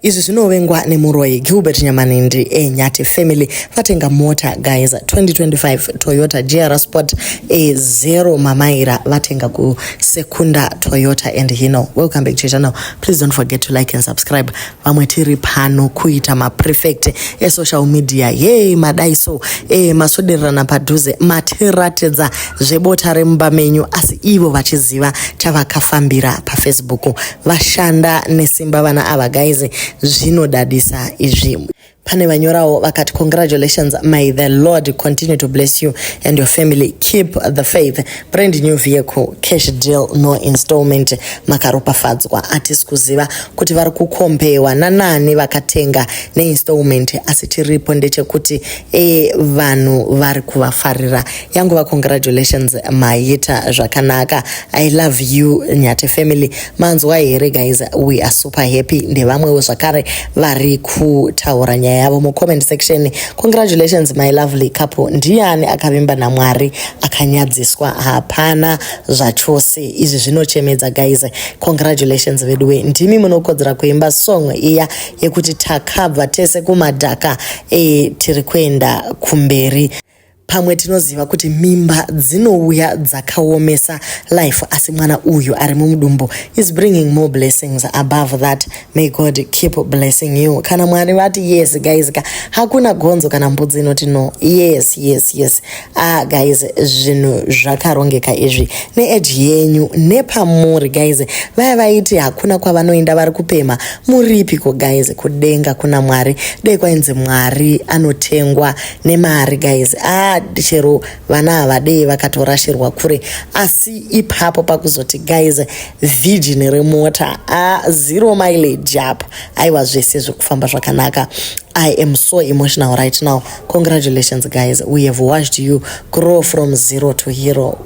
Izvi zvinovengwa nemuroyi Gilbert Nyamanindi e Nyati Family vatenga mota guys 2025 Toyota GR Sport e zero mamaira vatenga ku Sekunda Toyota and Hino. Welcome back to channel. Please don't forget to like and subscribe. Vamwe tiri pano kuita ma prefect e social media. Yey madai so e masodererana padhuze matiratidza zvebota remumba menyu asi ivo vachiziva chavakafambira pa Facebook. vashanda nesimba vana ava guys zvinodadisa izvi pane vanyorawo vakati congratulations may the lord continue to bless you and your family keep the faith brand new vehicle cash deal no installment makaropafadzwa hatisi kuziva kuti vari kukombewa nanani vakatenga neinstallment asi chiripo ndechekuti e vanhu vari kuvafarira yanguva congratulations maita zvakanaka i love you nyati family manzwa here guys we are super happy ndevamwewo zvakare vari kutaura nyaya yavo mucomment section congratulations my lovely couple ndiani akavimba namwari akanyadziswa hapana zvachose izvi zvinochemedza guys congratulations veduwe ndimi munokodzera kuimba song iya yekuti takabva tese kumadhaka e, tiri kuenda kumberi Pamwe tinoziva kuti mimba dzinouya dzakaomesa life asi mwana uyu ari mumudumbu is bringing more blessings above that may God keep blessing you kana mwari vati yes guys ka hakuna gonzo kana mbudzi inoti no yes yes yes ah guys zvinhu zvakarongeka izvi needge yenyu nepamuri guys vaya vaiti hakuna kwavanoenda vari kupema muripiko guys kudenga kuna mwari dei kwainzi mwari anotengwa nemari guys ah chero vana havadei vakatorashirwa kure asi ipapo pakuzoti guys virgin remota ah zero mileage apa aiwa zvese zvekufamba zvakanaka I am so emotional right now. Congratulations, guys. We have watched you grow from zero to hero.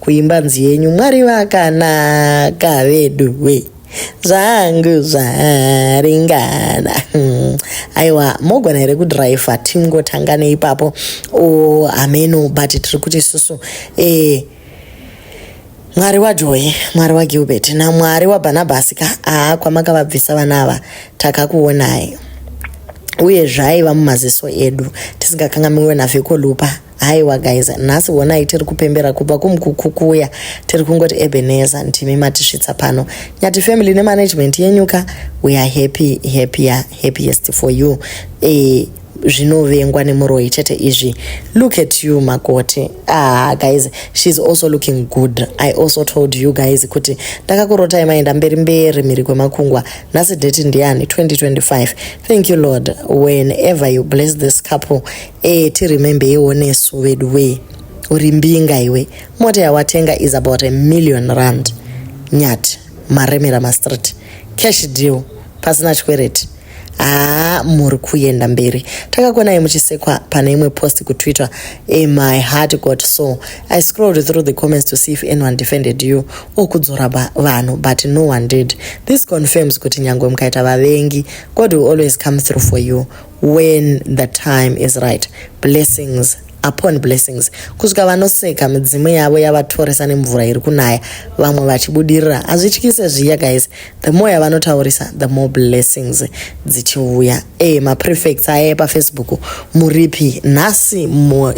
kuimba nzi yenyu mwari vakanaka veduwe zvangu zvaringana hmm. aiwa mogona here kudriva tingotanga neipapo o hameno but tiri kuti isusu eh, mwari wajoye mwari wagilbert namwari wabarnabhasi ka aa kwamakavabvisa vana ava takakuonai uye zvaiva mumaziso edu tisingakangamiwe navhekolupa haiwa guys nhasi honai tiri kupembera kubva kumkukukuya tiri kungoti ebeneza ndimi matisvitsa pano nyati family nemanagement yenyuka we are happy happier happiest for you e, zvinovengwa nemuroyi chete izvi look at you makoti ah guys sheis also looking good i also told you guys kuti ndakakurotai maenda mberi mberi mhiri kwemakungwa nhasi date ndiyani 2025 thank you lord whenever you bless this couple Eh, ti remember yewo nesu vedu wee. Uri mbinga iwe. Mota yawatenga is about a million rand. Nyati, maremera mastreet. Cash deal, pasina chikwereti. Haa, ah, muri kuenda mberi. Takakonai muchisekwa pane imwe post kutwitter. Eh, my heart got so. I scrolled through the comments to see if anyone defended you. Okudzora ba, vanhu, but no one did. This confirms kuti nyangwe mukaita vavengi, God will always come through for you. when the time is right blessings upon blessings kusvika vanoseka midzimu yavo yavatoresa nemvura iri kunaya vamwe vachibudirira hazvityise zviya guys the more yavanotaurisa the more blessings dzichiuya e maprefects aya epafacebook muripi nhasi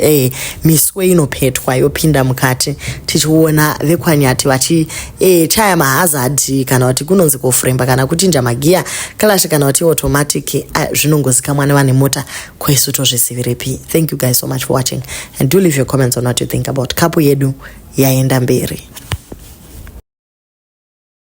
e miswe inopetwa yopinda mukati tichiona vekwanyati vachi e, chaya mahazard kana kuti kunonzi kofremba kana kuchinja magiya kalash kana kuti automatic ah, zvinongozikamwa nevane mota kwesu tozvizivirepi thank you guys so much for watching and do leave your comments on what you think about kapu yedu yaenda mberi